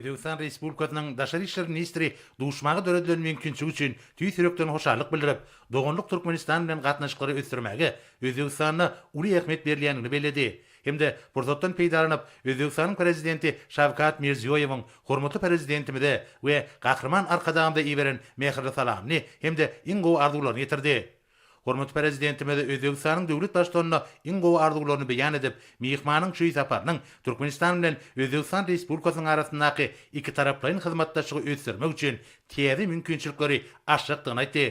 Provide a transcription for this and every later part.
Özbegistan Respublikasynyň Daşary işler ministri duşmaga döredilen mümkinçilik üçin tüýs ýürekden hoşallyk bildirip, doganlyk Türkmenistan bilen gatnaşyklary ösdürmäge Özbegistanda uly ähmiýet berilýändigini belledi hem-de pursatdan peýdalanyp, Özbegistanyň Prezidenti Şawkat Mirziýoýewiň hormatly Prezidentimize we Gahryman Arkadagymyza iberen mähirli salamyny hem-de iň gowy arzuwlaryny ýetirdi. Hormatly Prezidentimiz Özbegistanyň döwlet Baştutanyna iň gowy arzuwlaryny beýan edip, myhmanyň şu saparynyň Türkmenistan bilen Özbegistan Respublikasynyň arasyndaky ikitaraplaýyn hyzmatdaşlygy ösdürmek üçin täze mümkinçilikleri açjakdygyny aýtdy.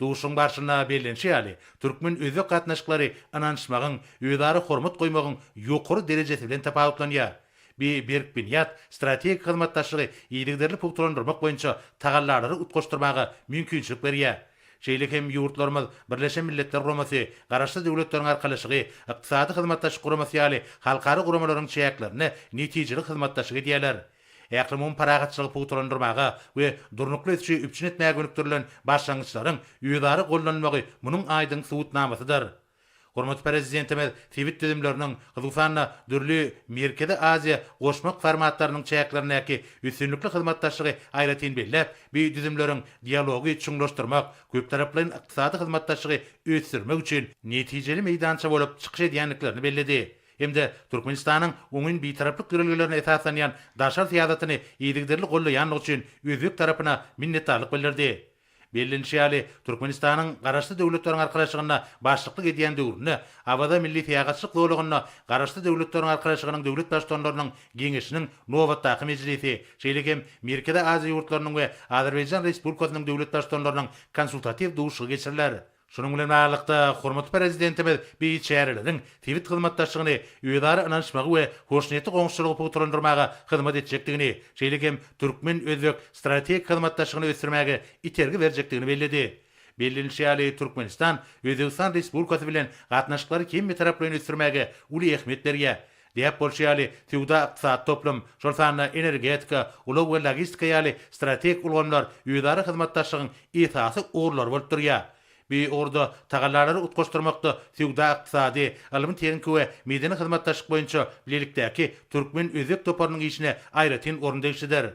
Duşuşygyň barşynda bellenişi ýaly, türkmen-özbek gatnaşyklary ynanyşmagyň, özara hormat goýmagyň ýokary derejesi bilen tapawutlanýar. Bu berk binýat strategik hyzmatdaşlygy yzygiderli pugtalandyrmak boýunça tagallalary utgaşdyrmaga mümkinçilik berýär. Şeýle hem ýurtlarymyz Birleşen Milletler Guramasy, Garaşsyz Döwletleriň Arkalaşygy, Ykdysady Hyzmatdaşlyk Guramasy ýaly halkara guramalaryň çäklerinde netijeli hyzmatdaşlyk edýärler. Ählumumy parahatçylygy pugtalandyrmaga we durnukly ösüşi üpjün etmäge gönükdirilen başlangyçlaryň özara gollanylmagy munuň aýdyň subutnamasydyr. Hormatly Prezidentimiz sebit düzümleriniň, hususan-da, dürli Merkezi Aziýa goşmak formatlarynyň çäklerindäki üstünlikli hyzmatdaşlygy aýratyn belläp, bu düzümleriň dialogy çuňlaşdyrmak, köptaraplaýyn ykdysady hyzmatdaşlygy ösdürmek üçin netijeli meýdança bolup çykyş edýändiklerini belledi hem-de Türkmenistanyň oňyn bitaraplyk ýörelgelerine esaslanýan daşary syýasatyny yzygiderli gollaýandygy üçin özbek tarapyna minnetdarlyk bildirdi. Bellenişi ýaly, Türkmenistanyň Garaşsyz Döwletleriň Arkalaşygyna başlyklyk edýän döwründe Awaza milli syýahatçylyk zolagynda Garaşsyz Döwletleriň Arkalaşygynyň Döwlet Baştutanlarynyň Geňeşiniň nobatdaky mejlisi, şeýle hem Merkezi Aziýa ýurtlarynyň we Azerbaýjan Respublikasynyň Döwlet Baştutanlarynyň Konsultatiw duşuşygy geçiriler. Şunuň bilen baglylykda, hormatly Prezidentimiz beýik çäreleriň sebit hyzmatdaşlygyny, özara ynanyşmagy we hoşniýetli goňşuçylygy pugtalandyrmaga hyzmat etjekdigini, şeýle hem türkmen-özbek strategik hyzmatdaşlygyny ösdürmäge itergi berjekdigini belledi. Bellenilişi ýaly, Türkmenistan Özbegistan Respublikasy bilen gatnaşyklary hemmetaraplaýyn ösdürmäge uly ähmiýet berýär, Däp bolşy ýaly, söwda-ykdysady toplum, şol sanda energetika, ulag we logistika ýaly strategik ulgamlar özara hyzmatdaşlygyň esasy ugurlary bolup durýar. Bu ugurda tagallalary utgaşdyrmakda söwda-ykdysady, ylmy-tehniki we medeni hyzmatdaşlyk boýunça bilelikdäki türkmen-özbek toparynyň işine aýratyn orun degişlidir.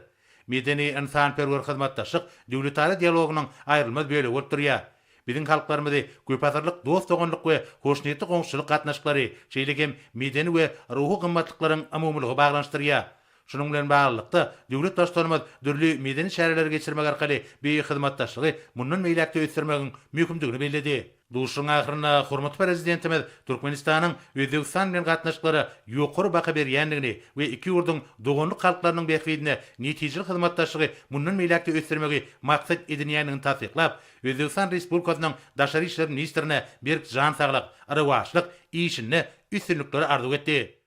Medeni-ynsanperwer hyzmatdaşlyk döwletara dialogynyň aýrylmaz bölegi bolup durýar. Biziň halklarymyzy köpasyrlyk dost-doganlyk we hoşniýetli goňşuçylyk gatnaşyklary, şeýle hem medeni we ruhy gymmatlyklaryň umumylygy baglanyşdyrýar. Şunuň bilen baglylykda, döwlet Baştutanymyz dürli medeni çäreleri geçirmek arkaly beýik hyzmatdaşlygy mundan beýläk-de ösdürmegiň möhümdigini belledi. Duşuşygyň ahyrynda hormatly Prezidentimiz Türkmenistanyň Özbegistan bilen gatnaşyklara ýokary baha berýändigini we iki ýurduň doganlyk halklarynyň bähbidine netijeli hyzmatdaşlygy mundan beýläk-de ösdürmegi maksat edinýändigini tassyklap, Özbegistan Respublikasynyň Daşary işler ministrine berk jan saglyk, rowaçlyk işinde üstünlikleri arzuw etdi.